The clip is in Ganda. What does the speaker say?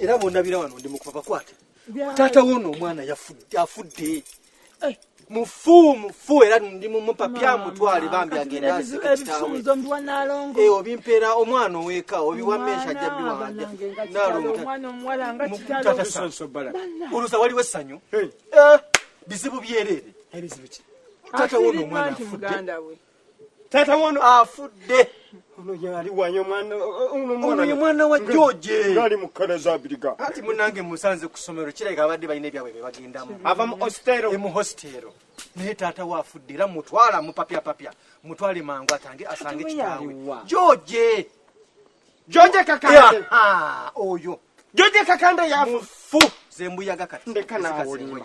era bondabira wano ndi mukupapa kwate taata wona omwana afudde eh. mufu mufu era ndi mumupapya mutwale bambi agendaobimpeera eh, omwana oweka obiwamesha jabiwaolusa waliwo essanyu eh, bizibu byerere taata wona omwana afudde tata wono afudde ono yali wanyo mwana ono ye mwana wa George yali mukana za biriga ati munange musanze kusomero kile kabadde bayine bya bebe bagenda mu ava mu hostero mu hostero ne tata wa afudde la mutwala mu papya papya mutwale mangu atange asange kitawe George George kakande ya ha oyo George kakande ya fu zembuyaga kati ndekana awolima